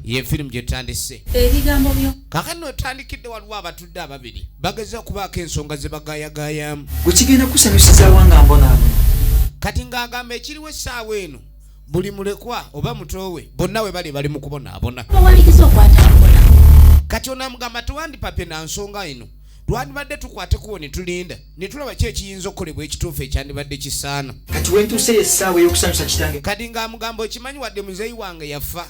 ye firimu gye tutandise ebigambo byo kakati notandikidde waliwo abatudde ababiri bageza okubaako ensonga ze bagayagayamu gwe kigenda kusanyusizawa nga mbonaabo kati ng'agamba ekiriwo essaawa eno buli mulekwa oba mutoowe bonna we bali bali mu kubonaabona kati onamugamba tewandipapye na nsonga eno twandibadde tukwate kubo ne tulinda ne tulaba ki ekiyinza okukolebwa ekituufu ekyandibadde kisaana kati wentuuseyo essaawa ey'okusanyusa kitange kati ng'amugamba okimanyi wadde muzeeyi wange yafa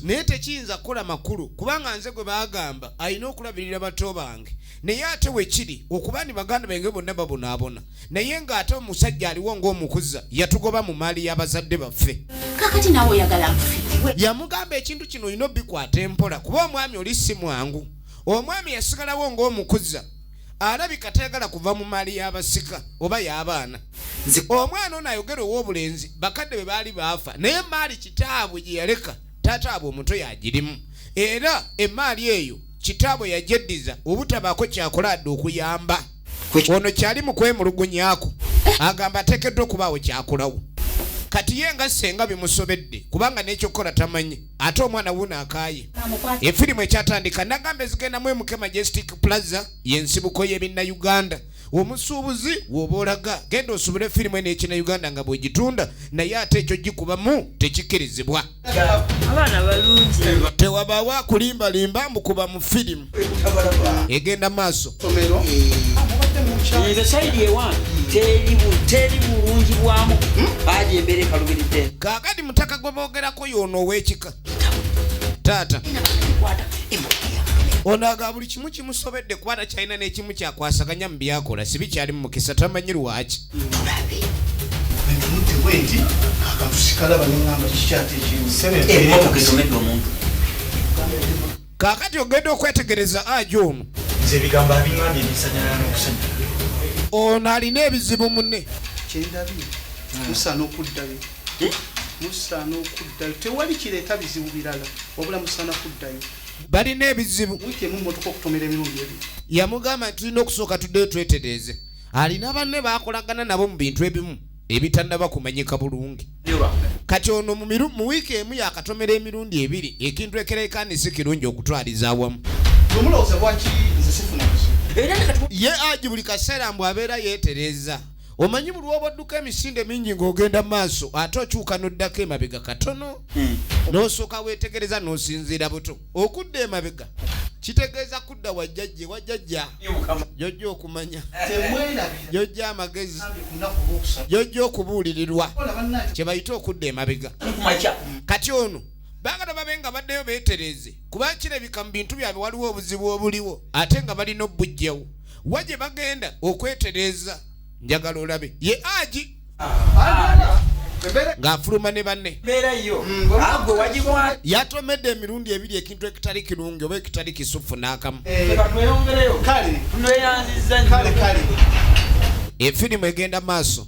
naye tekiyinza kukola makulu kubanga nze gwe baagamba alina okulabirira bato bange naye ate wekiri okuba ni baganda bange bonna babonaabona naye ng'ate omusajja aliwo ng'omukuza yatugoba mu maali y'abazadde baffe kakati nawe oyagala yamugamba ekintu kino olina obikwata empola kuba omwami oli si mwangu omwami yasigalawo ng'omukuza alabika tayagala kuva mu maali y'abasika oba y'abaana omwana ono ayogera ow'obulenzi bakadde bwe baali baafa naye maali kitaabwe gye yaleka taata abwe omuto yagirimu era emaali eyo kitaabwe yagyeddiza obutabaako kyakola adde okuyamba ono kyali mu kwemulugunyako agamba ateekeddwa okubaawo kyakolawo kati ye nga ssenga bimusobedde kubanga n'ekyokukola tamanyi ate omwana wuno akaaye efirimu ekyatandika nagamba ezigenda mu mk majestic plaza yensibuko yebinna uganda omusuubuzi woba olaga genda osubule firimu eno ekina uganda nga bwegitunda naye ate ekyo gikubamu tekikkirizibwa tewabaawo akulimbalimba mbukuba mu firimu egenda maaso nze saidi ewan teri bulungi bwamu baji embeera ekalubiridde kakati mutaka gwe boogerako yoono ow'ekika taata ono aga buli kimu kimusobedde kuba takyalina n'ekimu kyakwasaganya mu byakola sibi kyali mu mukisa tamanyi lwaki Kaakati ogenda okwetegereza aja ono. Nze ebigambo abingambye binsanyalala n'okusanya. Ono alina ebizibu munne. Kyendabye musaana okuddayo. Eh? Musaana okuddayo. Tewali kireeta bizibu birala wabula musaana kuddayo. Balina ebizibu. Wiiki emu mmotoka okutomera emirundi ebiri. Yamugamba nti tulina okusooka tuddeyo twetereeze. Alina banne baakolagana nabo mu bintu ebimu. ebitanaba kumanyika bulungi kati ono mu wiiki emu yakatomera emirundi ebiri ekintu ekerekani si kirungi okutwaliza awamu ye aji buli kaseera mbu abeera yeetereza omanyi buli woba odduka emisinde mingi ng'ogenda mu maaso ate okyuka n'oddako emabega katono hmm. n'osooka weetegereza n'osinziira buto okudda emabega kitegeeza kudda wa jjajja ewa jjajja jojja okumanya jojja amagezi jojja okubuulirirwa kye bayita okudda emabega kati ono bagala babe nga baddeyo beetereeze kuba kirabika mu bintu byabwe waliwo obuzibu obuliwo ate nga balina obujjawo wa gye bagenda okwetereeza njagala olabe ye aji ng'afuluma ne banne mm, yatomedde emirundi ebiri ekintu ekitali kirungi oba ekitali kisufu n'akamu eh. efirimu egenda maaso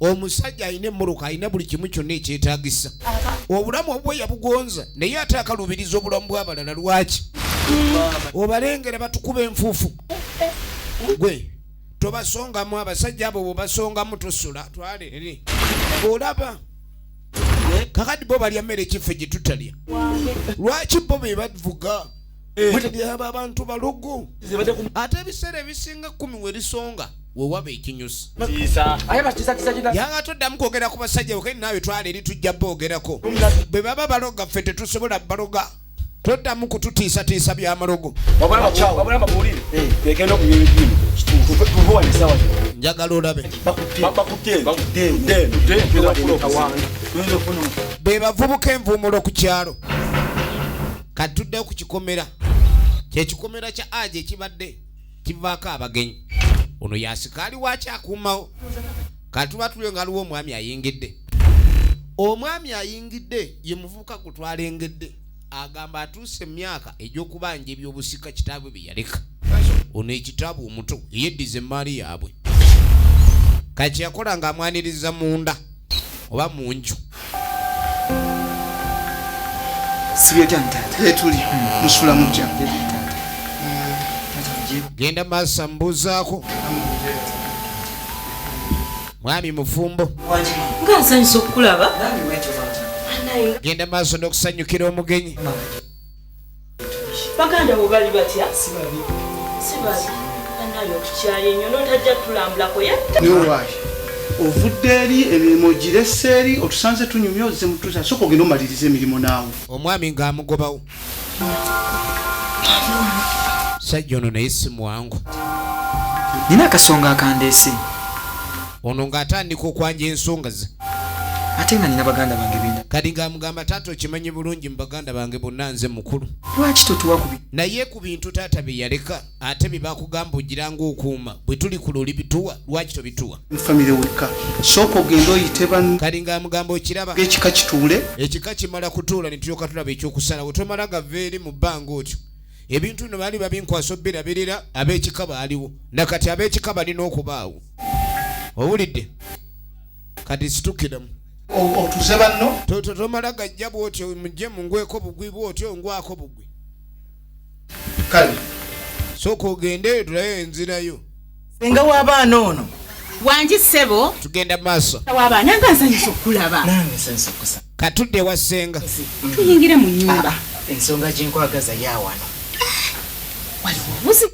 omusajja alina emmoroka alina buli kimu kyonna ekyetagisa obulamu obwe yabugonza naye ate akalubiriza obulamu bwabalala lwaki obalengera batukuba enfuufu gwe tobasongamu abasajja abo bwebasongamu tusula twalere olaba kakati bo balya mmere kiffe gyetutalya lwaki bo bebavuga eh. bwetebyaba abantu balugu ate ebiseera ebisinga kumi werisonga wewaba ekinyusi yanga toddamu kwogera ku basajja bokei naawe twala eri tujja boogerako bwe baba baloga ffe tetusobola baloga toddamu kututiisatiisa byamalogo njagala olabe be bavubuka envuumulo ku kyalo kati tuddeyo ku kikomera kyekikomera kya aja ekibadde kivaako abagenyi ono yasikaali waaki akuumawo kati tuba tulio nga aliwo omwami ayingidde omwami ayingidde ye muvubuka ku twalengedde agamba atuuse emyaka egy'okubanja ebyobusika kitaabwe bye yaleka ono ekitaabu omuto eyeddiza emmaali yaabwe kati yakola ng'amwaniriza munda oba mu nju genda maasa mubuuzaako mwami mufumbo nga nsanyusa okukulaba genda maaso n'okusanyukira omugenyi baganda bo bali batya sibabi sibabi anaye otukyaye nyo notajja tulambulako yatta ovudde eri emirimu girese eri otusanze tunyumya ozze mutusa soka ogenda omaliriza emirimu naawe omwami ng'amugobawo sajja ono naye si mwangu nina akasonga akandeese ono ng'atandika okwanja ensonga ze ate nga nina baganda bange bina kati ng'amugamba taata okimanyi bulungi mu baganda bange bonna nze mukulu lwaki totuwa ku naye ku bintu taata bye yaleka ate bye bakugamba ogira ng'okuuma bwe tuli ku luli bituwa lwaki tobituwa famire wekka sooka ogenda oyite ban kati ng'amugamba okiraba ekika kituule ekika kimala kutuula ne tulyoka tulaba ekyokusalawo tomala gava eri mu bbanga otyo ebintu bino baali babinkwasa obubirabirira ab'ekika baaliwo nakati ab'ekika balina okubaawo owulidde kati situkiramu otuze banno tomala gajja bwotyo mujje mungweko bugwi bwotyo ngwako bugwi kale soka ogendeyo tulayo enzirayo senga w'abaana ono wangi ssebo tugenda maaso w'abaana nga nsanyusa okulaba nange nsanyusa okusaba katudde wa senga tuyingira mu nyumba ah, ah, ensonga gyenkwagaza yawano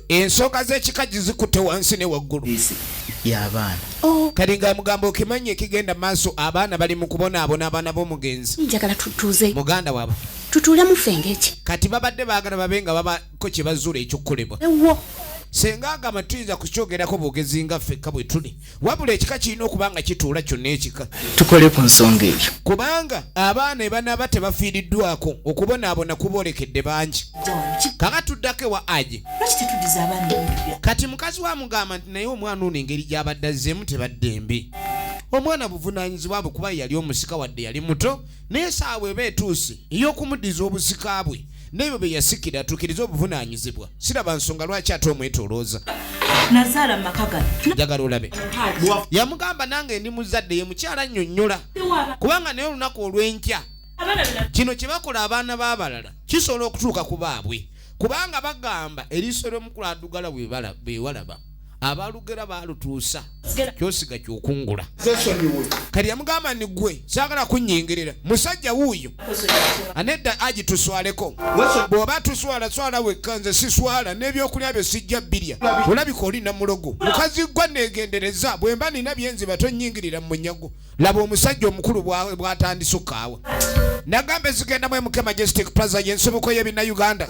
ensonga zekikaji zikute wansi ne waggulu yabaana oh. kati nga mugamba okimanya ekigenda maaso abaana bali mu kubonaabona abaana b'omugenzi njagala tutuuze muganda wabo tutuule mufenge eki kati babadde baagala babe nga babako kye bazuula ekyokukolebwa ewo senga agamba tuyinza kukyogerako bwogezi nga ffekka bwe tuli wabula ekika kirina okuba nga kituula kyonna ekika tukole ku nsonga eyo kubanga abaana ebanaaba tebafiiriddwako okubonaabona kuboolekedde bangi kaka tuddako ewa aje kati mukazi wa mugamba nti naye omwana ono engeri gy'abadde azzeemu tebadde mbi omwana buvunaanyizibwa bwe kuba yali omusika wadde yali muto naye saawa eba etuuse ey'okumuddiza obusika bwe n'ebyo bye yasikira atuukirize obuvunaanyizibwa siraba nsonga lwaki ate omwetolooza nazaala maka gano njagala olabe yamugamba nange ndi muzadde ye mukyala annyonnyola kubanga naye olunaku olw'enkya kino kye bakola abaana b'abalala kisobola okutuuka ku baabwe kubanga bagamba eriiso ly'omukulu adugala bwewalaba abalugera balutuusa kyosiga kyokungula kati yamugamba ni gwe sagala kunyingirira musajja wuuyo anedda agi tuswaleko bwoba tuswala swala wekka nze siswala n'ebyokulya bye sijja birya olabika oli namulogo mukazi gwa negendereza bwemba nina byenziba tonyingirira mu munyago laba omusajja omukulu bwatandise okukaawa nagamba ezigenda mu mk majestic plaza yensibuko yebina uganda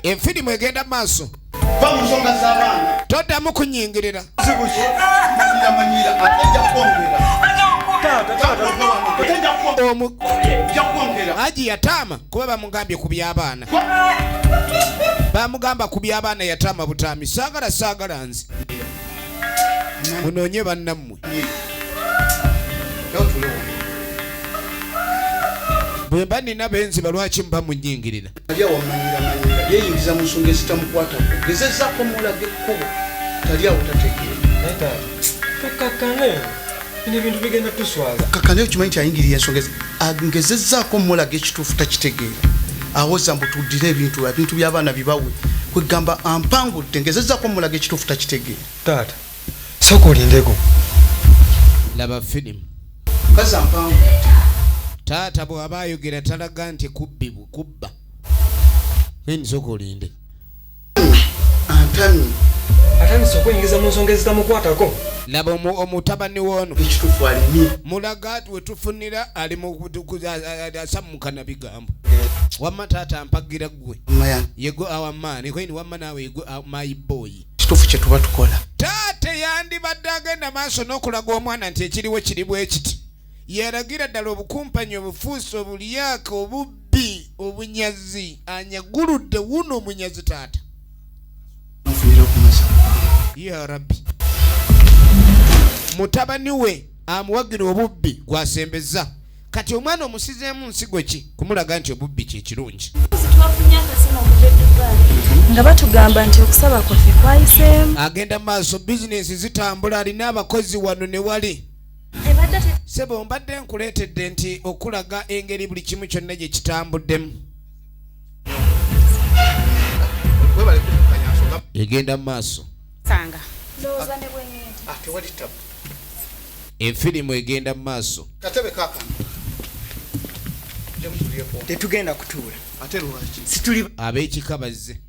efirimu egenda maaso toddamu kunyingirira aji yataama kuba bamugambye ku by'abaana bamugamba ku by'abaana yataama butaami saagala saagala nze munoonye bannammwe bwe mba nina benziba lwaki muba munyingirira yeyingiza mu nsonga ezitamukwata gezezako mulage ekkubo tali awo tategeera bino ebintu bigenda tuswaza kaka naye okimanyi nti ayingiriye ensonga ezi ngezezzaako mulaga ekituufu takitegeera awoza mbu tuddire ebintu ebintu by'abaana bibawe kwegamba ampangudde ngezezzaako mulaga ekituufu takitegeera taata sooka olindeko laba filimu kazi ampangudde taata bw'aba ayogera talaga nti kubbi kubba nsoka olinde Antamye. Atandise okuyingiza mu nsonga ezitamukwatako. Laba omutabani w'ono. Ekituufu alimye. Mulaga wetufunira ali mu asammukana bigambo. Wamma taata mpagira ggwe. Yego awa maani. Koyini wamma naawe yego my boy. Ekituufu kye tuba tukola. Taata yandibadde agenda maaso n'okulaga omwana nti ekiriwo kiri bwe kiti. yalagira ddala obukumpanyi obufuusi obulyaka obubbi obunyazi anyaguludde wuno omunyazi taata ya rabbi mutabani we amuwagira obubbi gwasembeza kati omwana omusizeemu nsigo ki kumulaga nti obubbi kyekirungi nga batugamba nti okusaba kwaffe kwayiseemu agenda maaso bizinensi zitambula alina abakozi wano ne wali sebo mbadde nkuleetedde nti okulaga engeri buli kimu kyonna gye kitambuddemu egenda mu maaso efirimu ah, egenda mu maaso tetugenda kutuula ab'ekika bazze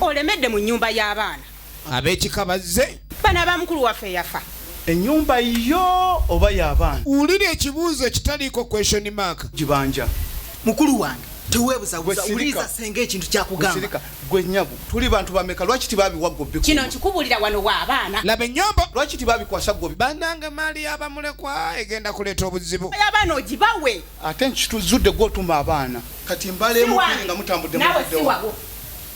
olemedde mu nyumba y'abaana ab'ekika bazze bana ba mukulu waffe yafa enyumba yo oba yabaana wulira ekibuuzo ekitaliiko question mark gibanja mukulu wange tewebuzabuza uliza senga ekintu kyakugamba gwe nyabo tuli bantu bameka lwaki tibabiwa gobbi kino nkikubulira wano wa abaana laba enyombo lwaki tibabikwasa gobbi banange maali yabamulekwa egenda kuleeta obuzibu abaana ogibawe ate nkituzudde gwotuma abaana kati mbaleemu nga mutambudde nawe siwawo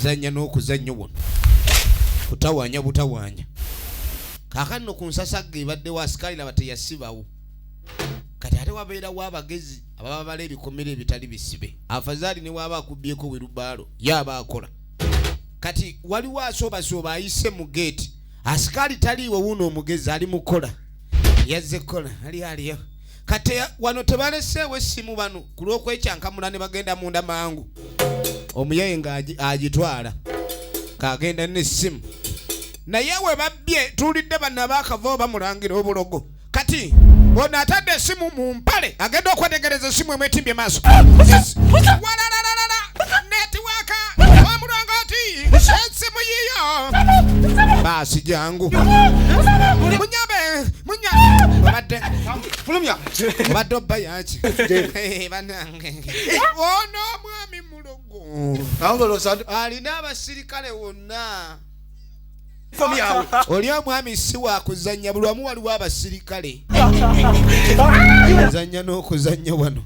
kuzannya n'okuzannyo buno kutawaanya butawaanya kaakano ku nsasagga ebaddewo asikaali laba teyasibawo kati ate wabeerawo abagezi ababa bala ebikomera ebitali bisibe afazaali ne waaba akubbyeko wirubaalo ye aba akola kati waliwo asoobasooba ayise mu geeti asikaali taliiwo wuuno omugezi ali mukola yazze kukola ali aliyo kati wano tebaleseewo essimu bano ku lw'okwekyankamula ne bagenda munda mangu omuyaye nga agitwala kagenda n'essimu naye we babbye tuwulidde banna abakava oba mulangira obulogo kati ono atadde esimu mu mpale agenda okwetegereza esimu emwetimbye maaso walalalala netiwaka omulongooti esimu yiyo baasi jangu munyambe munya obadde fulumya obadde obba yaki banange ono omwami mulogo alina abasirikale wonna oli omwami si wakuzanya buli wamu waliwo abasirikale zanya n'okuzanya wano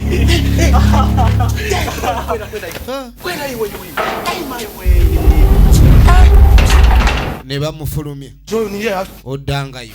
ne bamufulumya oddangayo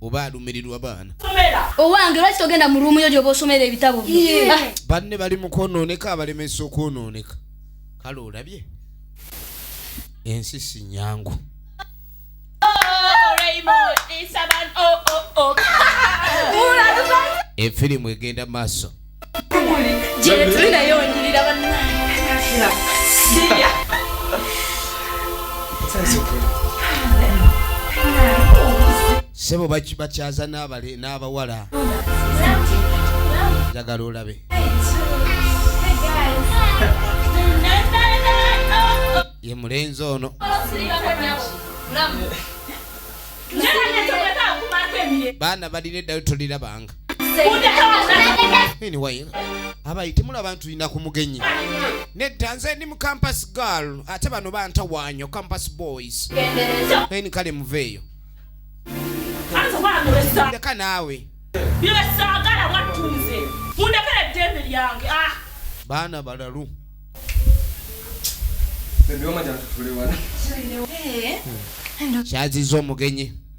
oba alumirirwa baana owange lwaki togenda mu ruumu yo gyoba osomera ebitabo ah. banne bali mu kwonooneka abalemesa okwonooneka kale olabye ensi si nyangu efirimu egenda maaso gyetuli naye onyirira bannange sebo bakyaza n'abawala njagala olabe ye mulenzi ono baana balina eddayo tolirabanga anyway abayi temulaba nti tulina ku mugenyi nedda nze ndi mu campus girl ate bano bantawaanyo campus boys naye ni kale muveeyo leka naawe byesaagala wattunze mundekera eddembe lyange ah. baana balalu kyaziza omugenyi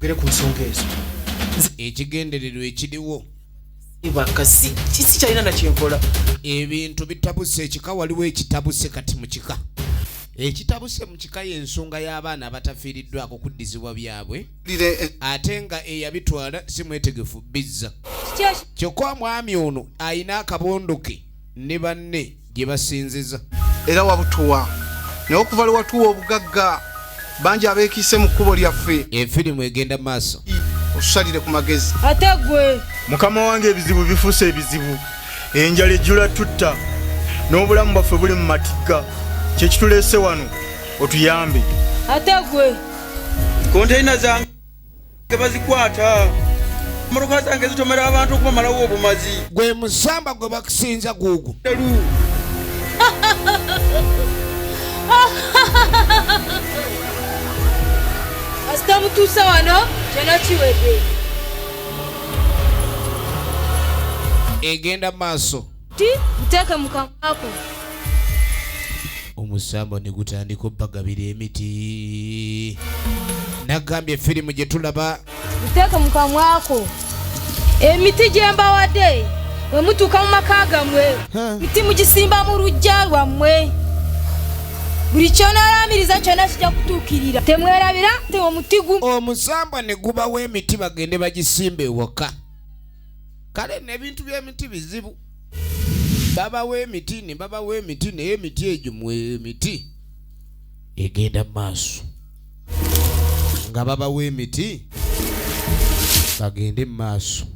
gere ku nsonga ezo ekigendererwa ekiriwo bakasi kisi kyalina nakyenkola ebintu bitabuse ekika waliwo ekitabuse kati mu kika ekitabuse mu kika y'ensonga y'abaana abatafiiriddwako kuddizibwa byabwe eh. ate nga eyabitwala si mwetegefu bizza kyokka omwami ono alina akabondo ke ne banne gye basinziza era wabutuwa naye okuva lwe watuwa obugagga bangi abeekiise mu kkubo lyaffe efirimu egenda maaso otusalire ku magezi ate gwe mukama wange ebizibu bifuuse ebizibu enjala ejjula tutta n'obulamu bwaffe buli mu matigga kyekituleese wano otuyambe ate gwe konteyina zange tebazikwata motoka zange zitomera abantu okubamalawo obumazi gwe musamba gwe bakusinza guugu asita mutuusa wano kyona kiwedde egenda maaso ti nteeke mu kamwako omusamba ne gutandika obbagabira emiti nagambye firimu gye tulaba nteeke mu kamwako emiti gye mbawadde bwe mutuuka mu maka gammwe miti mugisimba mu lujja lwammwe buli kyonalamiriza kyona kijja kutuukirira temwerabira te omuti gumu omusambwa ne gubawo emiti bagende bagisimba ewaka kale nebintu byemiti bizibu babawa emiti ne babawa emiti naye emiti egyo emiti egenda mu maaso nga babawa emiti bagende mu maaso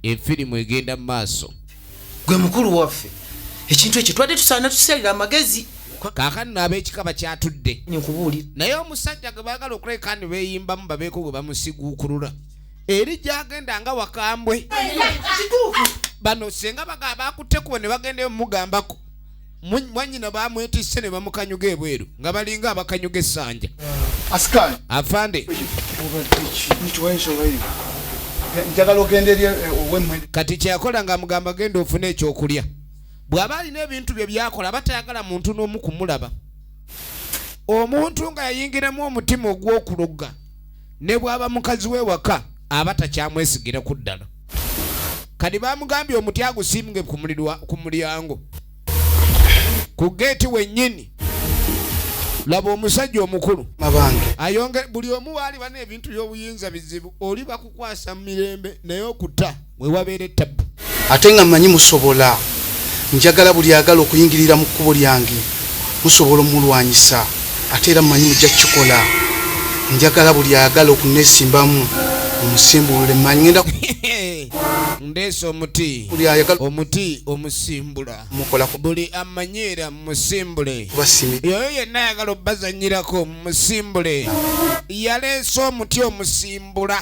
efirimu egenda mu maaso gwe mukulu waffe ekintu ekyo twadde tusaana tusalira amagezi kakani no abekika bakyatudde nkubuulira naye omusajja gwe baagala okuleka ni beeyimbamu babeeko gwe bamusiguukulula eri gyagenda nga wakambwe bano senga baga bakutte kubo ne bagendayo mugambako mwanyina bamwetisse ne bamukanyuga ebweru nga balinga abakanyuga essanja afande kati kyeyakola nga amugamba genda ofune ekyokulya bw'aba alina ebintu bye byakola aba tayagala muntu n'omu kumulaba omuntu nga yayingiramu omutima ogw'okulogga ne bw'aba mukazi we waka aba takyamwesigira ku ddala kati bamugambye omuti agusimbwe ku mulyango ku geeti wennyini laba omusajja omukulu ayonge buli omu waali bana ebintu by'obuyinza bizibu oli bakukwasa mu mirembe naye okutta wewabeera ettabu. Ate nga mmanyi musobola. Njagala buli ayagala okuyingirira mu kkubo lyange musobola omulwanyisa ate era mmanyi mujja kukikola. Njagala buli ayagala okunneesimbamu omusimbulule mmanyi ngenda ndeese omuti omuti omusimbula mukolako buli amanyiira musimbule yoyo yenna ayagala obazanyirako musimbule yaleese omuti omusimbula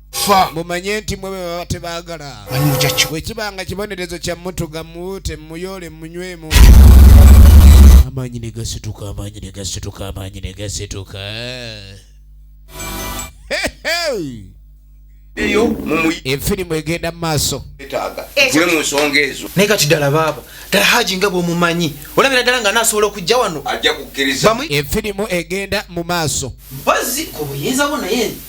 fa mumanye nti mwe bebaba tebagala bwekibanga kibonerezo kya mutuga muwute muyole munywemu amaanyi ne gasituka amaanyi ne gasituka amaanyi ne gasituka eyo efirimu egenda mu maaso gwe mu nsonga ezo naye kati ddala baaba ddala haji nga bwomumanyi olabira ddala nga nasobola okujja wano ajja kukkiriza efirimu egenda mu maaso mpazi ku buyinza bwo naye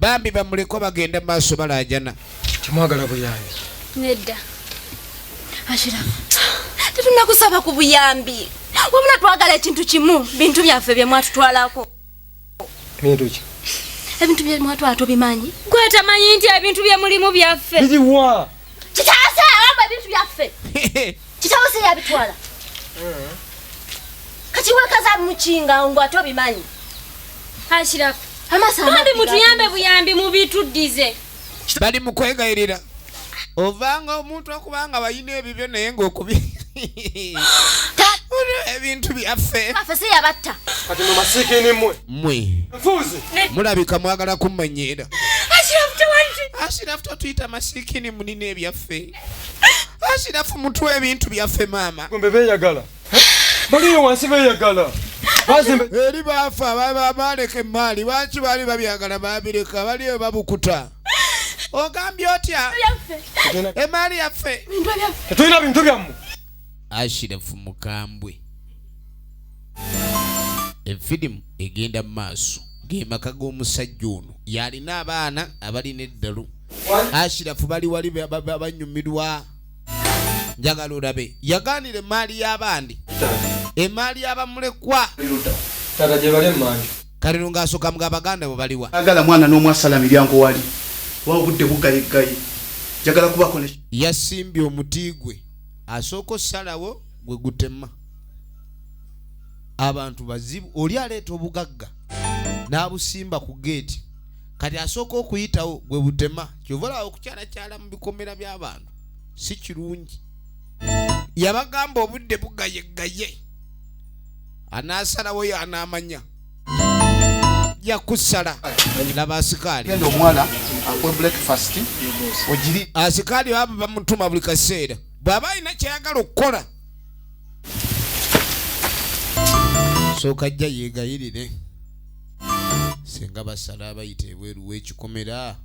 bambi bamuleko bagenda maaso balajana temwagala buyambi nedda ashirafu tetunakusaba ku buyambi wabula twagala ekintu kimu bintu byaffe byemwatutwalako bintu ki ebintu bye mwatwala tobimanyi gwe tamanyi nti ebintu bye mulimu byaffe biriwa kitasa amba ebintu byaffe kitabo se yabitwala mm. kati wekaza mukinga ngo atobimanyi ashirako amasaambi mutuyambe buyambi mubituddize bali mu kwegayirira ovanga omuntu okuba nga balina ebibyo naye ngaokubi ebintu byaffe mulabika mwagala kumanyiira asirafu tatuyita masikini munina ebyaffe asirafu mutw ebintu byaffe maama baliyo wansi beyagala eri baafa baaleka emmaali lwaki baali babyagala baabireka baliyo babukuta ogambye otya emaali yaffe tetulina bintu byammwe ashirafu mukambwe efirimu egenda mu maaso gemaka g'omusajja ono yalina abaana abalina eddalu ashirafu bali wali banyumirwa njagala olabe yagaanira emaali y'abandi emaali y'abamulekwa taata gye bali emmanju kaliro ng'asooka mga abaganda bwe baliwa agala mwana n'omwasala miryango wali wa obudde bugayiggayi njagala kubako ne yasimbye omuti gwe asooka osalawo gwe gutema abantu bazibu oli aleeta obugagga n'abusimba ku geeti kati asooka okuyitawo gwe butema kyova olaba okukyalakyala mu bikomera by'abantu si kirungi yabagamba obudde bugayegaye anaasalawo yo anaamanya yakusala laba asikaali asikaali baba bamutuma buli kaseera bw'aba alina kyeyagala okukola sooka jja yeegayirire singa basala abayita ebweru w'ekikomera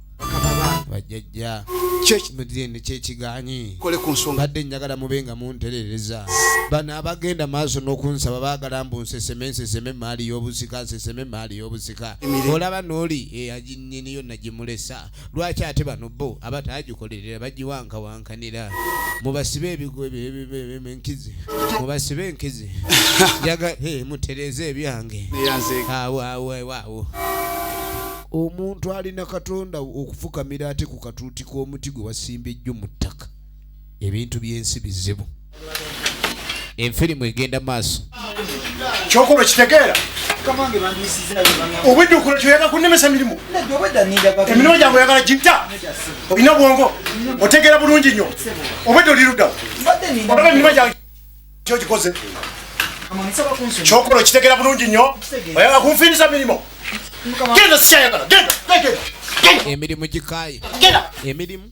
bajjajja kyekimudhende kyekiganyi kole ku nsonga adde njagala mube nga munterereza bano abagenda maaso n'okunsaba baagala mbu nseseme nseseme emaali y'obusika nseseme emaali y'obusika olaba n'oli eyaginyini yonna gimulesa lwaki ate bano bo abatagikolerera bagiwankawankanira mubasibe ebigoenkizi mubasibe enkizi jaga mutereze ebyange awoawoawo omuntu alina katonda okufukamira ate ku katuuti k'omuti gwe wasimba ejjo mu ttaka ebintu byensi bizibu enfirimu egenda maaso kyokuba kitegeera obuddukulo kyoyaga kunemesa mirimu emirimu gyange oyagala gita olina obwongo otegeera bulungi nnyo obwedde olirudawo olaba emirimu gyange kyokikoze kyokola okitegera bulungi nnyo oyagala kunfiiriza mirimu genda sikyayagala genda emirimu gikaye emirimu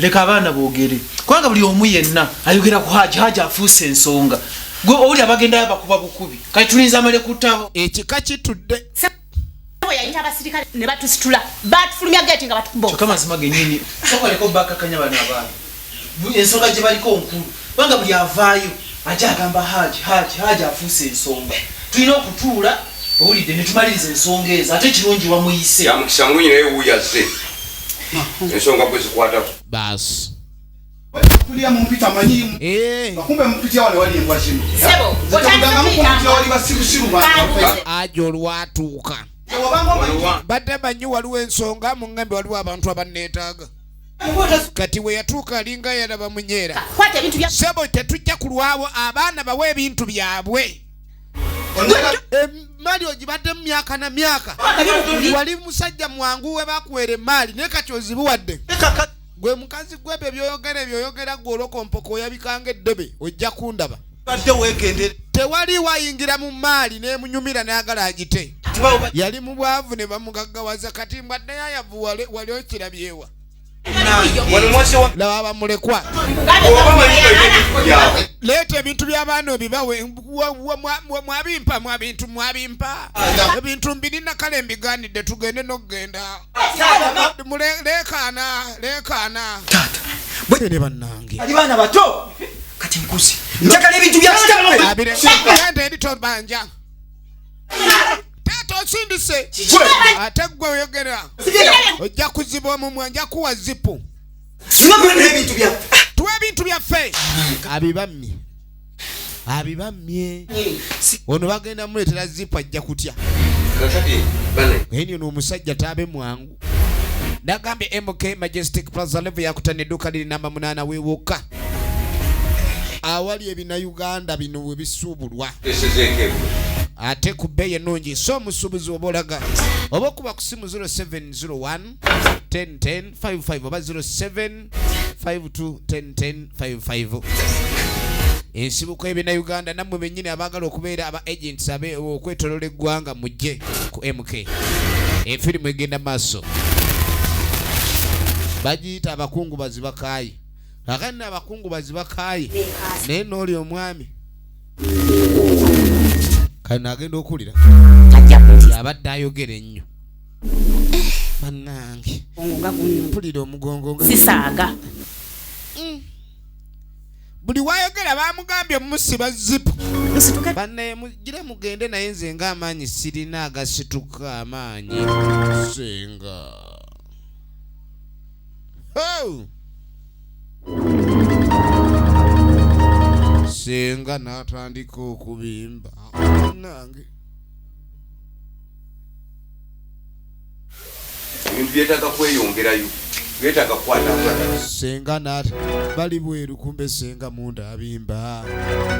leka abaana bogere kubanga buli omu yenna ayogera ku haji haji afuuse ensonga gwe owuli abagendayo abakuba bukubi kati tulinza amale kutabo ekika kitudde yayita abasirikale ne batusitula batufulumya geti nga batukubaoka mazima genyini okaleko bakakanya bana abaana ensonga gye baliko nkulu kubanga buli avaayo aja agamba haji haji haji afuuse ensonga tulina okutuula owulidde ne tumaliriza ensonga ezo ate kirungi wamuyise yamukisa mulungi naye wuyaze ensonga gwe zikwatako baasi kulya mumpita manyimu eh. bakumbe mupitya wale wali embwa zino zitaganga mukumpitya wali basirusiru aja olwatuuka badde manyi waliwo ensonga muŋŋambe waliwo abantu abanneetaaga kati we yatuuka alinga yalaba munyeera sebo tetujja kulwawo abaana bawe ebintu byabwe emali ogibadde mu myaka na myaka wali musajja mwangu we bakuwera emaali naye kati ozibuwadde gwe mukazi gwe ebyo byoyogera ebyoyogera gwe olokompoka oyabikanga eddebe ojja kundaba tewali wayingira mu maali nemunyumira nayagala agite yali mu bwavu ne bamugaggawaza kati mbwaddeyo ayavu wali okirabyewa laba bamulekwa leeta ebintu byabaana obibawe mwabimpa mwabintu mwabimpa ebintu mbirina kale mbiganidde tugende nokugenda leekaana leekaana bwene bannange ali baana bato kati nkuzi njagala ebintu bya kitawe abirente eri tobanja taata osindise ate gwe oyogera ojja kuziba omumwa nja kuwa zipu tuwa ebintu byaffe abibammye abibammye ono bagenda muleetera zipu ajja kutya enyo noomusajja taabe mwangu nagambye MK Majestic Plaza level yakuta ne duka liri namba munana wewoka awali ebina Uganda bino we bisubulwa ate ku bbeeyi ennungi so omusuubuzi oba olaga oba okuba ku simu 0701 10 10 55 oba 07 52101055 ensibuko ebina uganda nammwe bennyini abaagala okubeera aba agents abe okwetolola eggwanga mujje ku mk efirimu egenda maaso bagiyita abakungu bazibakaayi kakati na abakungu bazibakaayi naye nooli omwami kano agenda okuwulira abadde ayogera ennyo banange mpulira omugongo sisaaga mm. buli wayogera bamugambye omusiba zipu banaye mugire mugende naye nze nga amaanyi sirina agasituka amaanyi senga oh! senga natandika okubimba nange ebintu byetaaga kweyongerayo byetaaga kukwata senga nat bali bweru kumbe senga munda abimba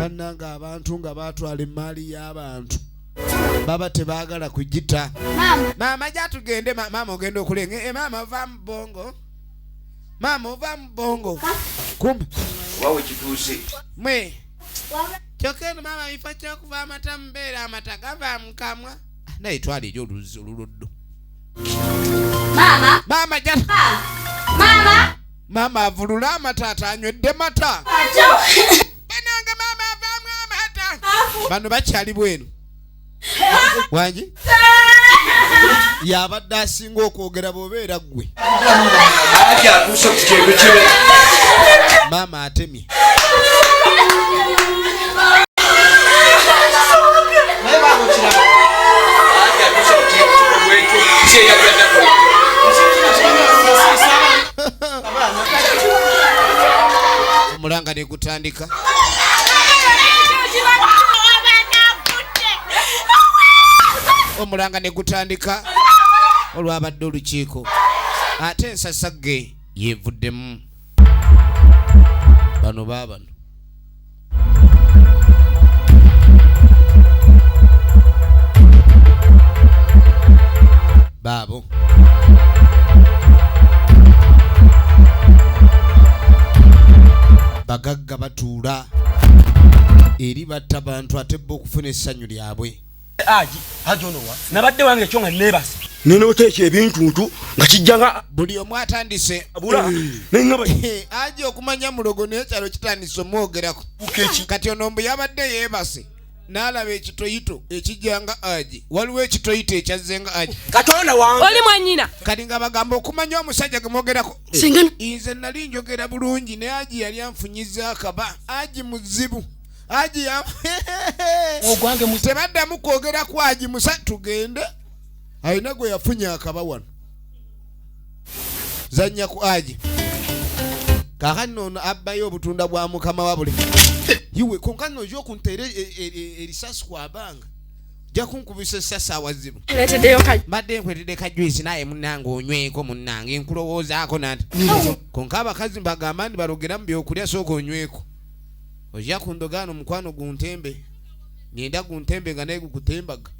bannanga abantu nga batwala emmaali y'abantu baba tebagala kugita maama gyatugende maama ogenda okulenga e maama ova mu bongo maama ova mu bongo kumbe oba wekituuse mwe kyokka eno maama bifa kyokuva amata mubeera amata gava mukamwa ah, naye twala eri oluzi oluluddu maama maama ja maama maama avulula amata atanywedde mata banange maama avaamu amata bano bakyali bwenu wangi yabadde asinga okwogera bwobeera ggwe maama atemye gutandika omulanga ne gutandika olwabadde olukiiko ate ensasagge yevuddemu bano baabano baabo bagagga batuula eri batta bantu ate bba okufuna essanyu lyabwe aji aji ono wa nabadde wange ekyo nga nebase nenoteeka ebintuntu nga kijja nga buli omu atandise eh, aji okumanya mulogo naye kyalo kitandise omwogerako kati ono mbu yabadde yebase n'alaba ekitoyito ekijja nga agi waliwo ekitoyito ekyazze nga agi katonda wange oli mwanyina kati nga bagamba okumanya omusajja ge mwogerako nze nali njogera bulungi naye agi yali anfunyiza akaba agi muzibu agi tebaddamu kwogera ku agi musa tugende alina gwe yafunye akaba wano zanya ku aji kakati nono abbayo obutunda bwa mukama wabule iwe konkano oja okunteera e- e- e- erisasi kwabanga ja kunkubisa esasi awazibu mbadde nkweredde kajwisi naye munange onyweko munange nkulowoozaako nati konka abakazi mbagamba nti balogera mu byokulya sooka onyweko oja kundogaano omukwano guntembe ngenda guntembe nga naye gukutembaga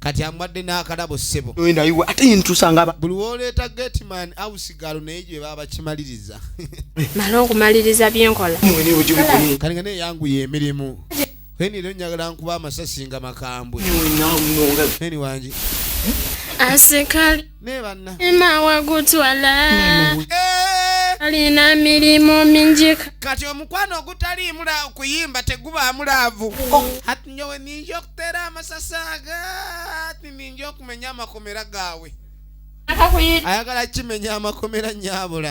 kati amwadde n'akalabo ssebo buli woleeta gateman ausigalo naye gye babakimaliriza mala okumaliriza byenkola kati nga naye yanguye emirimu eni era njagala nkuba amasasi nga makambwe eni wangi asikali naye banna ima wagutwala eh! alina mirimu mingi kati omukwano ogutaliimu kuyimba tegubaamu laavu oh. ati nyowe ninja okuteera amasasi aga ati ninja okumenya amakomera gaawe ayagala kimenya amakomera nyabula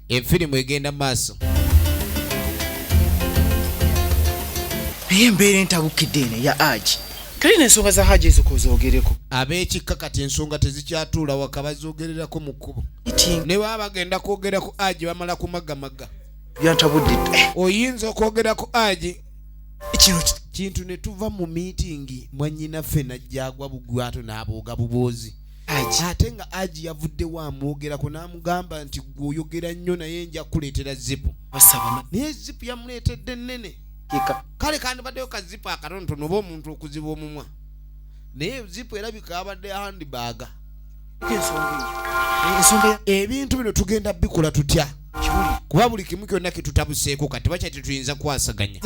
Enfirimu egenda maaso. Naye embeera entabukidde eno ya Haji. Teri n'ensonga za Haji ezo k'ozoogereko. Ab'ekikka kati ensonga tezikyatuula waka bazoogererako mu kkubo. Ne baba bagenda kwogera ku Haji bamala kumagamaga. Byantabudde. Oyinza okwogera ku Haji. Kino kintu ne tuva mu miitingi mwannyinaffe n'ajja agwa bugwato n'abooga buboozi. ate nga aji yavuddewo amwogerako n'amugamba nti gwe oyogera nnyo naye nja kukuleetera zipu naye zipu yamuleetedde ennene kale kandibaddeyo kazipu akatonotono oba omuntu okuziba omumwa naye zipu erabika abadde handibaaga ebintu bino tugenda bikola tutya kuba buli kimu kyonna kitutabuseeko kati bakya tetuyinza kwasaganya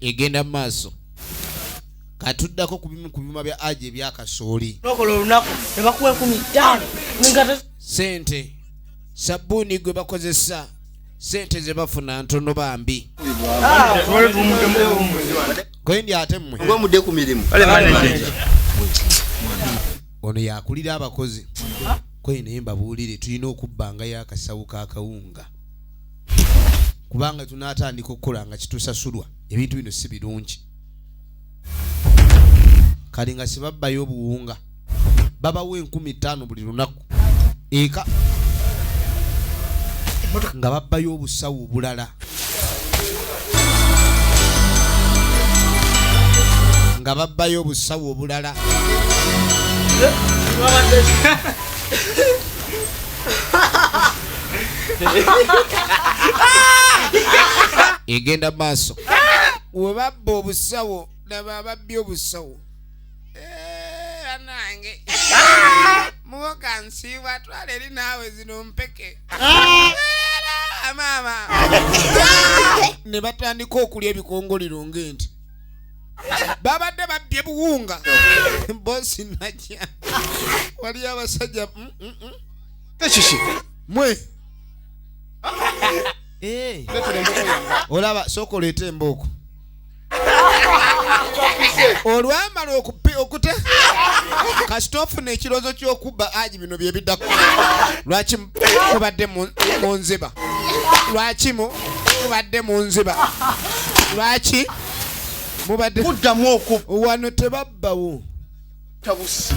egenda mu maaso katuddako ku bimu ku byuma bya aji ebyakasooli sente sabbuuni gwe bakozesa sente ze bafuna ntono bambi ah. kwendi ate mmwe oba mudde ku mirimu ono yakulira abakozi kwendi naye mbabuulire tulina okubbanga yakasawo kakawunga kubanga tunatandika okukola nga kitusasulwa ebintu bino si birungi kale nga sibabbayo obuwunga babawa enkumi ttaano buli lunaku eka nga babbayo obusawo obulala nga babbayo obusawo obulala egenda maaso webabba obusawo nabababbi obusawo Eh, anange muwoka nsiibwa twala eri naawe zino mpeke Era, maama ne batandika okulya ebikongoliro ng'ente babadde babbye buwunga bosi najja waliyo abasajja mm, mm, mm. Ekiki? mwe Eh, Leetera embogo yange. olaba sooka oleete embooko olwamala okupi okuta kasita ofuna ekiroozo ky'okubba aji bino bye biddako lwaki mubadde mu nziba lwaki mubadde mu nziba lwaki mubadde muddamu oku wano tebabbawo tabusi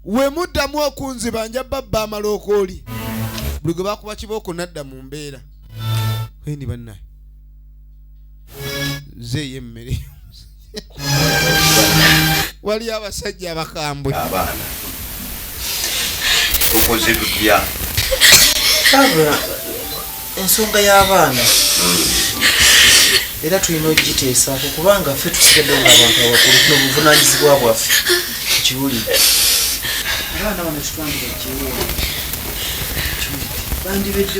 we muddamu okunziba nja babba amala okooli buli gwe bakuba kibooko nadda mu mbeera endi bannaye nze yemmere waliyo abasajja abakambwe abaana okoze tutya ensonga y'abaana era tulina okugiteesaako kubanga ffe tusigadde nga abantu abakulu no buvunanyizibwa bwaffe tukiwulire abaana bano kitwandira kiwuwo bandibedde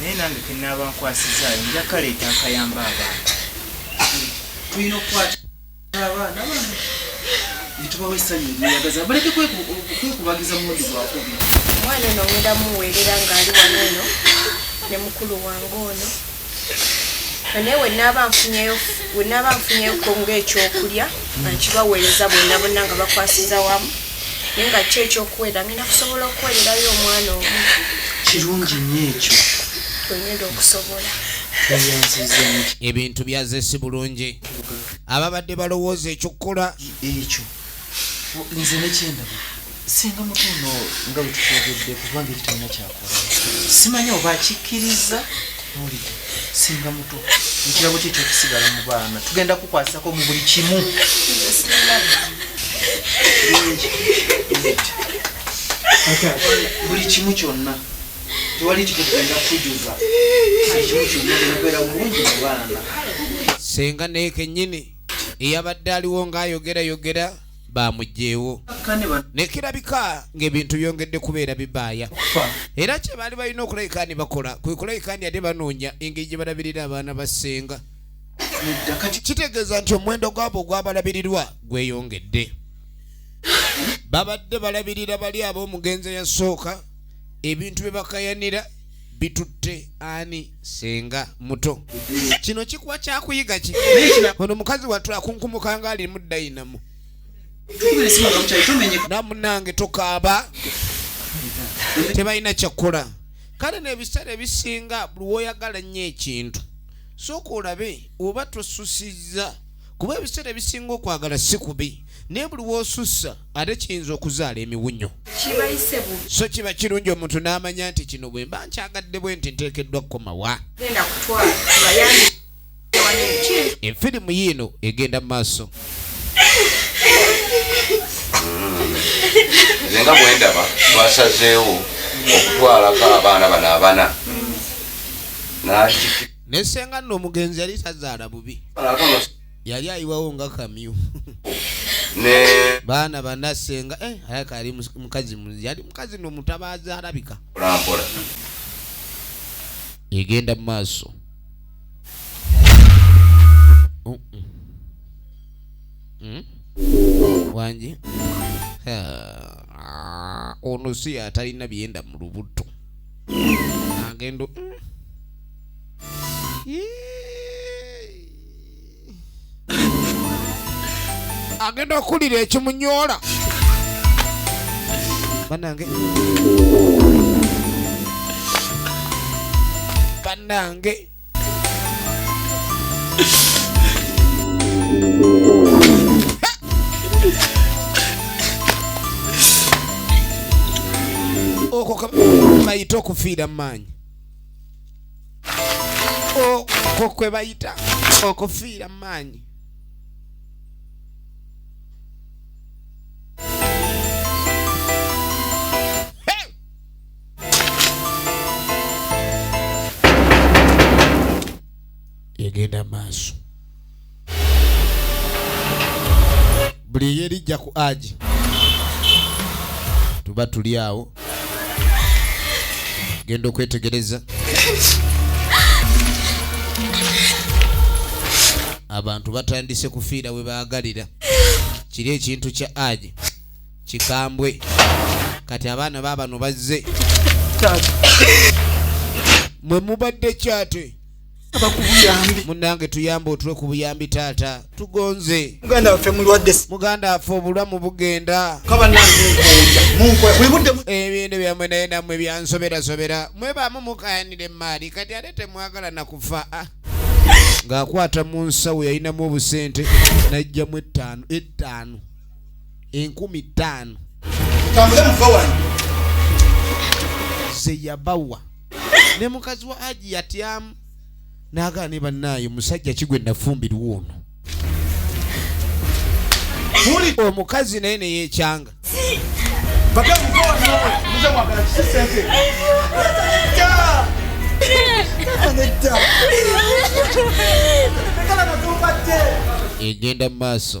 naye nange kenaaba nkwasizaayo nja kaleeta akayamba abaana tulina okukwata abaana bano netubawa essanyu eryeyagaza baleke kwekubagiza mulundi gwakubi omwana ono ngenda muweerera ng'ali wano eno ne mukulu wange ono naye wenaaba nfunyeyo wenaaba nfunyeyoko ngaekyokulya nkibaweereza bonna bonna nga bakwasiza wamu naye nga ki ekyokuweera ngenda kusobola okuweererayo omwana omu kirungi nyo ekyo wengenda okusobola ebintu byazesi bulungi ababadde balowooza ekyokukola ekyo nze nekyendaba singa mutu ono nga wetukyogedde kubanga ekitalina kyakola simanyi oba akikkiriza mulide singa mutu ekirabo kye kyokusigala mu baana tugenda kukwasako mu buli kimu buli kimu kyonna tewali kikugenda kujuza buli kimu kyonna genda kubeera bulungi mu baana senga nekenyini eyabadde aliwo ng'ayogerayogera baamuggyeewo ne kirabika ng'ebintu byongedde kubeera bibaaya era kye baali balina okulabika ni bakola kwe kulabika ndi ate banoonya engeri gye balabirira abaana ba ssenga kitegeeza nti omuwendo gwabo ogwabalabirirwa gweyongedde babadde balabirira bali ab'omugenzi eyasooka ebintu bye bakayanira bitutte ani senga muto kino kikuwa kyakuyiga ki ono mukazi watu akunkumuka nga alimu dayinamu namunange tokaaba tebalina kyakukola kale nebiseera ebisinga buli woyagala nnyo ekintu sooka olabe oba tosusiza kuba ebiseera ebisinga okwagala si kubi naye buli w'osussa ate kiyinza okuzaala emiwunyo so kiba kirungi omuntu n'amanya nti kino bwe mba nkyagadde bwe nti nteekeddwa kukomawa efirimu yiino egenda mu maaso nze nga bwendaba twasazeewo okutwalako abaana bano abana ne senga nno omugenzi yali tazaala bubi yali ayiwawo nga kamyu baana bana senga eh, alaka yali mukazi yali mukazi no mutabazi alabika egenda mu maaso oh, mm. Hmm? wangi ono si atalina byenda mu lubuto agendo mm. agenda okuwulira ekimunyoola banange banange okwo kabayita okufiira mu maanyi okwo kwe bayita okufiira mu maanyi egenda maaso buli eyerijja ku aji tuba tuli awo genda okwetegereza abantu batandise kufiira we baagalira kiri ekintu kya aji kikambwe kati abaana baabano bazze mwe mubadde kyate munange tuyambe otule ku buyambi taata tugonze muganda waffe mulwadde muganda waffe obulamu bugenda ebintu byamwe naye namwe byansoberasobera mwebamu mukayanira emaali kati ate temwagala nakufa ah. ng'akwata mu nsawo yalinamu obusente najjamu ettaano ettaano enkumi ttaano zeyabawa ne mukazi wa aji yatyamu nagaa ne bannaayo musajja kigwe nafumbirwa ono muli omukazi naye neyekyanga egenda mu maaso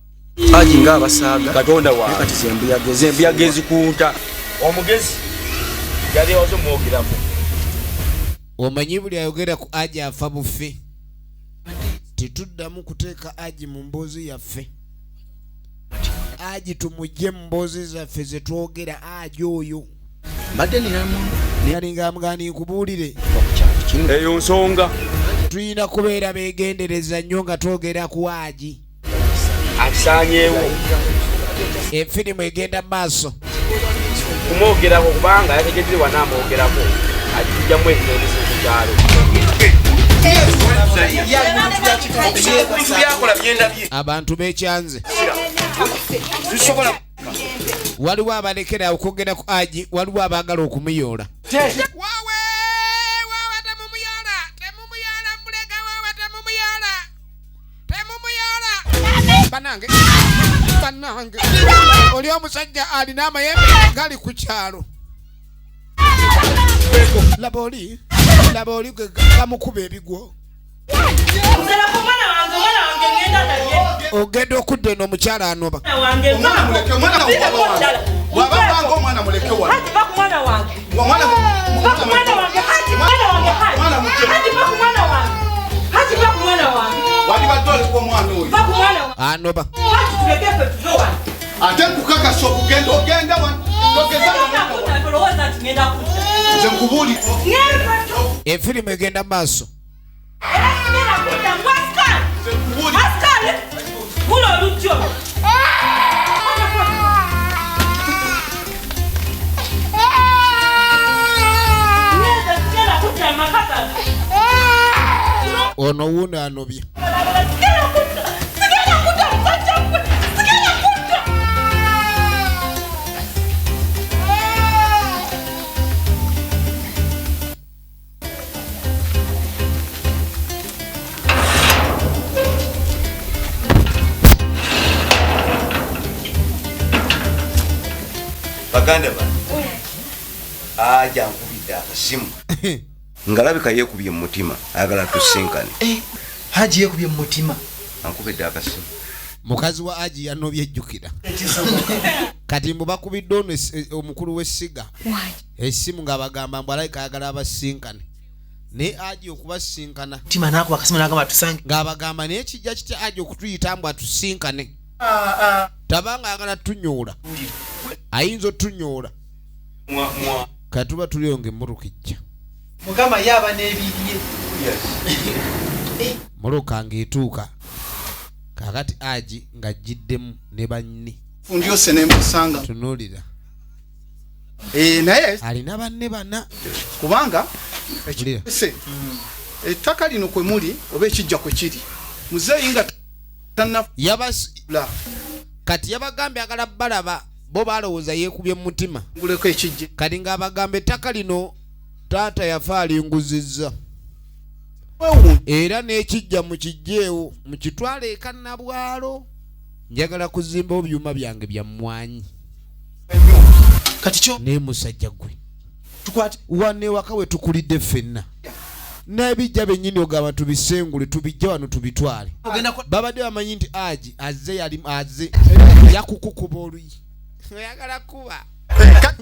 Haji nga abasaaga katonda wa kati zembuyaga ezembuyaga ezikunta omugezi yali wazo mwogerako omanyi buli ayogera ku aji afa bufe tetuddamu kuteeka aji mu mboozi yaffe aji tumujje mu mboozi zaffe zetwogera aji oyo mbadde ninamu nalinga amugani nkubuulire eyo nsonga tulina kubeera begendereza nnyo nga twogera ku aji akisanyeewo efirimu egenda mu maaso kumwogerako kubanga yategedde wana amwogerako ajjamu ebitondeso ku kyalo abantu bekyanze waliwo abalekera okwogera ku aji waliwo abaagala okumuyoola temumuyala banange banange oli omusajja alina amayembe gali ku kyalo laba oli laba oli gwe gamukuba ebigwo ogenda okudda eno omukyala anoba anoba ate nkukakasa okugenda ogenda efirimu egenda maaso ono wuuno anobye baganda bange aja nkubidde akasimu ngalabika yekubye mu mutima ayagala tusinkane eh, haji yekubye mu mutima ankubidde akasimu mukazi wa aji yanobye jjukira kati mbu bakubidde ono omukulu w'essiga esimu ng'abagamba mbu alabika ayagala abasinkane naye aji okubasinkana tima nakuba akasimu nagamba tusange ng'abagamba naye kijja kitya aji okutuyita mbu atusinkane ah, ah. tabanga ayagala tunyoola ayinza otunyoola katuba tuliyo ngaemmotoka ejja mukama ye aba n'ebirye moloka ng'etuuka kakati aji ng'ajjiddemu ne banni tunuulira eh, naye alina banne bana kubanga ekise hmm. ettaka lino kwe muli oba ekijja kwe kiri muzeeyi nga kati yabagambye agala balaba bo balowooza yeekubye mu mutima nguleko ekijja kati ng'abagamba ettaka lino taata yafa alinguzizza era n'ekijja mu kijjeewo mu kitwalo ekanabwalo njagala kuzimbawo byuma byange bya mmwanyi kati kyo naye musajja gwe tukwate wane waka we tukulidde ffenna n'ebijja bennyini ogamba tubisengule tubijja wano tubitwale babadde bamanyi nti aji azze yali azze yakukukuba oluyi oyagala kuba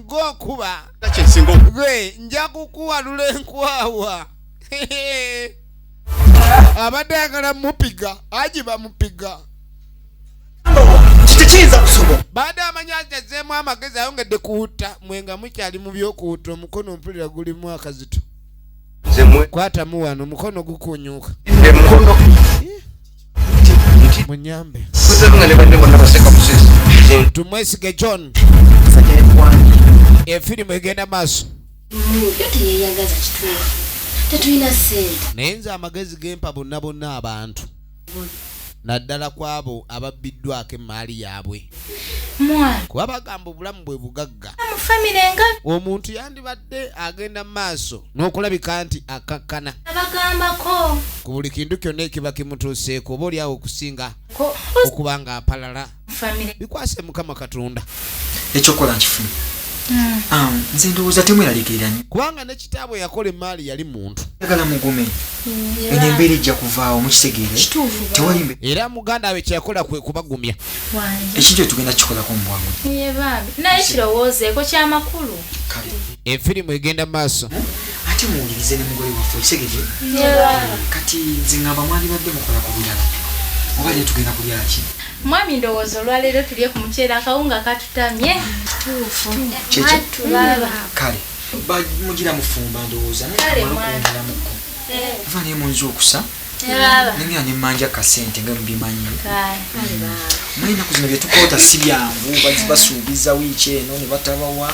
gokuba gwe nja kukuwalula enkwawa abadde ayagala mupiga aji bamupiga baada amanyi ajazeemu amagezi ayongedde kuwutta mwe nga mukyali mu byokuwutta omukono mpulira gulimu akazito kwatamu wano omukono gukunyuuka munyambe tumwesige john efirimu egenda maaso naye nze amagezi gempa bonna bonna abantu naddala ku abo ababbiddwako emmaali yaabwe kuba bagamba obulamu bwe bugagga omuntu yandibadde agenda mu maaso n'okulabika nti akakkana ku buli kintu kyonna ekiba kimutuuseeko oba olyawo okusinga okuba ng'apalala bikwase mukama katonda ekyokola nkifunye hmm. ah, nze ndowooza temweraliikirira nyo kubanga ne kitaabwe yakola emaali yali muntu agala mugume hmm, eno embeera ejja kuvaawo mukitegeere tewali era muganda we kyeyakola kwe kubagumya ekintu etugenda kikolako mu bwangu naye kirowoozeeko kyamakulu efirimu egenda mu maaso hmm? ate muwulirize ne mugole waffe okitegedde kati nze ngamba mwalibadde mukola ku birala oba leero tugenda kulyaki Mwami ndowooza olwaleero tulye ku muceere akawunga katutamye. Kituufu. Mwattu baba. Kale mugira mufumba ndowooza nokundiramuko ava naye munzi okusa nengera nemanja kasente nga mubimanyi mwenaku zino byetukoota si byangu basuubiza wiiki eno nebatabawa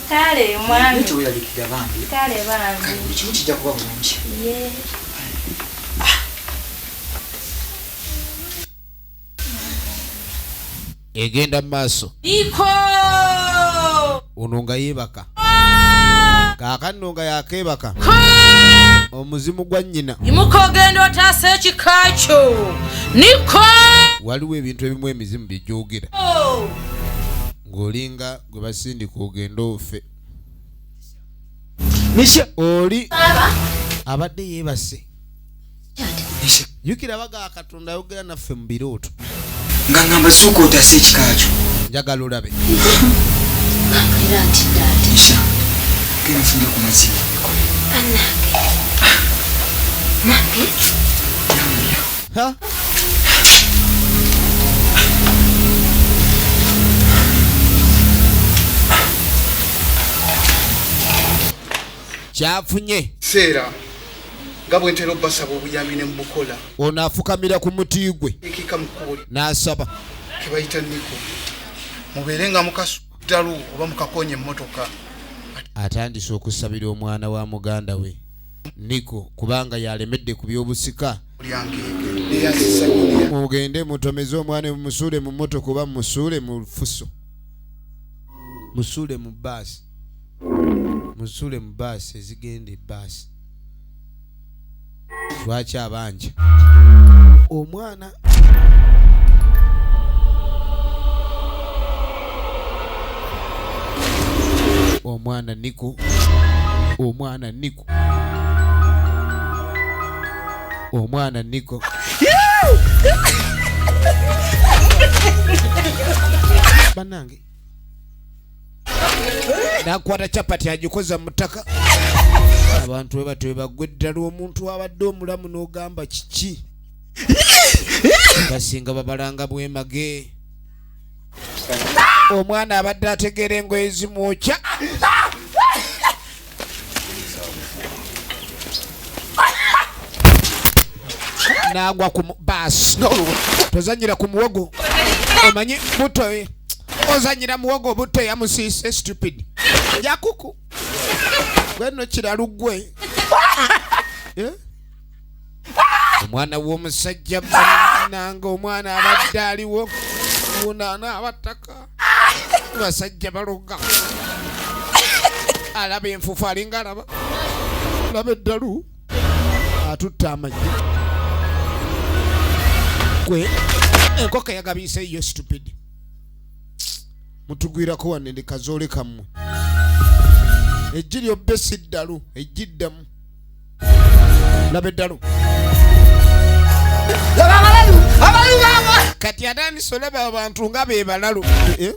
Kale mwami. Nito welalikira bambi. Kale bambi. Kale kimu kijja kuba bulungi. Yee. egenda mu maaso ono nga yeebaka kaaka nno nga yakeebaka omuzimu gwa nnyina imuka ogenda otaasa ekika kyo niko waliwo ebintu ebimu emizimu bye gyogera oh. ng'olinga gwe basindika ogende ofe nisha oli abadde yeebase nisha jukira baga katonda ayogera naffe mu birooto nga ngamba suuka otasa ekikakyo njagala olabe nisha genfunde ku mazima Banange. Nange. Ha? kyafunye seera nga bwe ntera obbasaba obuyambi ne mubukola ono afukamira ku muti gwe ekika mu kkubo lye n'asaba ke bayita niko mubeere nga mukasuddalu oba mukakonya emmotoka atandise okusabira omwana wa muganda we niko kubanga yalemedde ku by'obusika mugende mutomeze omwana musuule mu motoka oba musuule mu fuso musuule mu baasi musuule mu baasi ezigenda ebaasi lwaki abanja omwana omwana niko omwana niko omwana nigo banange nakwata capati agikoza mutaka abantu webatyo webagwa eddala omuntu abadde omulamu n'ogamba kiki basinga babalanga bwemage omwana abadde ategeera engoye zimwokya nagwa ku baasi tozanyira ku muwogo omanyi buto ozanyira muwogo buto yamusiise stupid yakuku gweno kiralu gwe eh? omwana w'omusajja bananga omwana abadde aliwo wunaana abattaka basajja baloga alaba enfufu alinga alaba alaba eddalu atutte amagi gwe enkoko yagabiisa eyo stupid mutugwirako wane ndi kazoole kammwe ejji lyobbe si ddalu ejjiddamu laba eddalu kati atandise olaba abantu nga be balalu eh?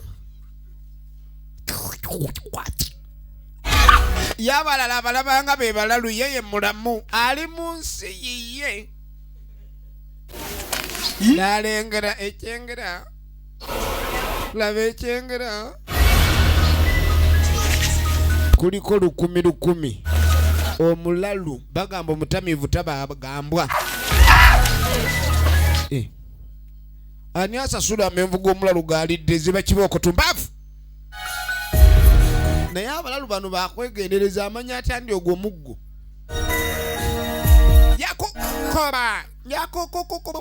yabalala abalaba nga be balalu yeye mulamu ali mu nsi yiye nalengera ekyengera laba ekyengera kuliko lukumi lukumi omulalu bagamba omutamiivu tabagambwa eh. ani asasula amenvu g'omulalu gaalidde ziba kiba okutumbaavu naye abalalu bano bakwegendereza amanya atya ndi ogwo muggo yakukoba yakukukukuba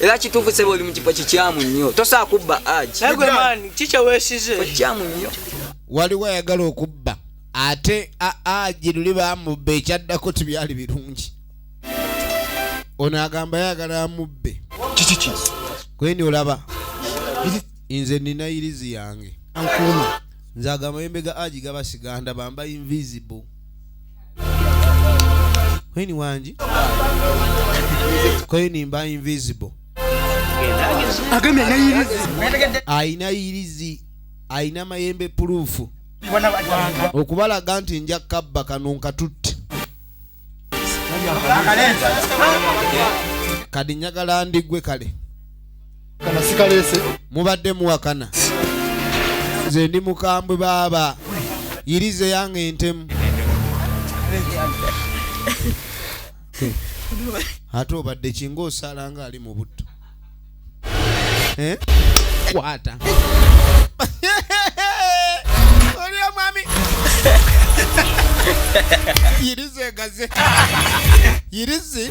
era kituufu sebo oli mu kifo kikyamu nnyo tosaa kubba aji kikye weesize kikyamu nnyo waliwo ayagala okubba ate aji luli bamubba ekyaddako tibyali birungi ono agamba yagala amubbe kikiki kweni olaba nze nina irizi yange nkuuma nze agamba yembega aji gaba siganda bamba invisible Queen wangi Queen mba invisible alina yirizi alina mayembe puluufu okubalaga nti nja kabba kano nkatutte kadi njagala ndigwe kale kana sikalese mubadde muwakana nze ndi mukambwe baaba yiriza eyange entemu ate obadde kinga osala nga ali mu butto eh? kwata oli omwami yirizi egaze yirizi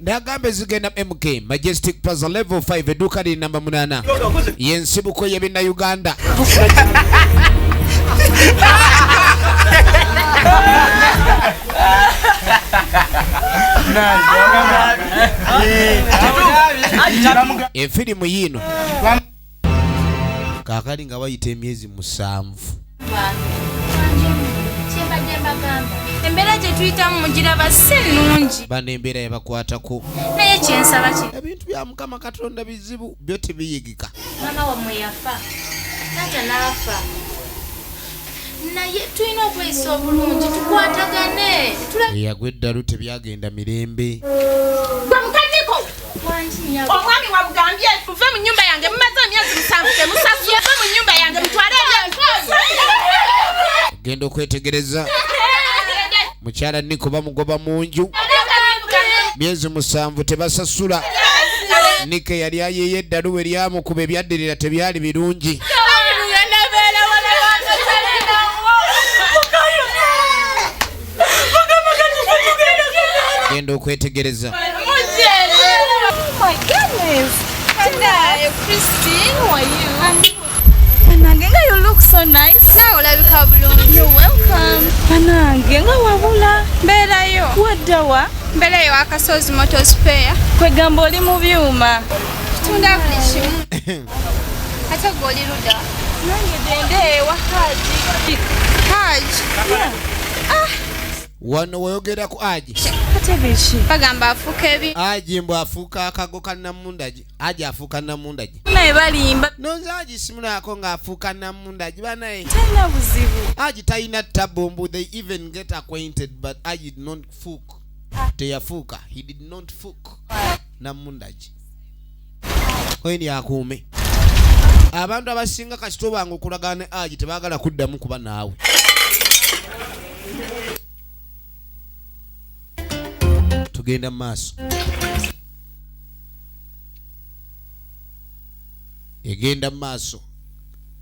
nagamba ezigenda mk majestic plaza level 5 edduuka liri namba 8 yensibuko yebinnauganda efirimu yiino kaakali nga wayita emyezi musanvu embeera gye tuyitamu mugiraba si nnungi bano embeera yabakwatako naye kyensaba ki ebintu bya mukama katonda bizibu byo tebiyigika mama wamwe yafa taata n'afa naye tulina okweyisa obulungi tukwatagane eyagwa eddalu tebyagenda mirembe omwami wamugambye muve mu nyumba yange mumaze emyezi musanvu temusasuye ve mu nyumba yange mutwale genda okwetegereza mukyala niko bamugoba mu nju myezi musanvu tebasasula nike yali ayeyo eddalu we lyamukuba ebyaddirira tebyali birungi genda okwetegereza banange nga wabula mbeerayo waddawa mbeerayo akasozi motospare kwegamba oli mu byuma tunda buli kimu Ate gwe oli luda? Nange gende ewa Haji. Haji? Ah! Wano wayogera ku Haji. Katebeki. Bagamba afuuka ebi. Haji mbu afuuka akago ka Namundagi. Haji afuuka Namundagi. Naye balimba. Nonze Haji simunaako ng'afuuka Namundagi banaye. Talina buzibu. Haji talina tabbu mbu they even get acquainted but Haji did not fuck. Ah. Teyafuuka. He did not fuck. Ah. Namundagi. oyini akuume abantu abasinga kasita obanga okulagana ne aji tebagala kuddamu kuba naawe tugenda mu maaso egenda mu maaso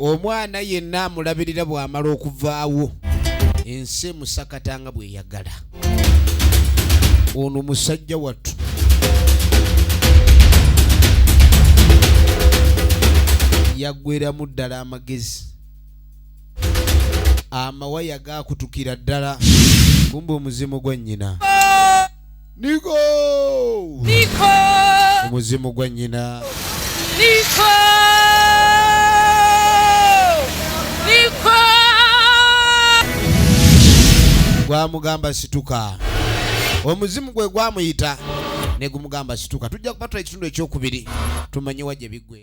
omwana yenna amulabirira bw'amala okuvaawo ensi emusakata nga bweyagala ono musajja wattu yaggweramu ddala amagezi amawaya gakutukira ddala kumba omuzimu gwa nnyina niko Niko, omuzimu gwa nnyina Niko, Niko, gwamugamba situka omuzimu gwe gwamuyita ne gumugamba situka tujja kubatula ekitundu ekyokubiri tumanye wa gye biggwe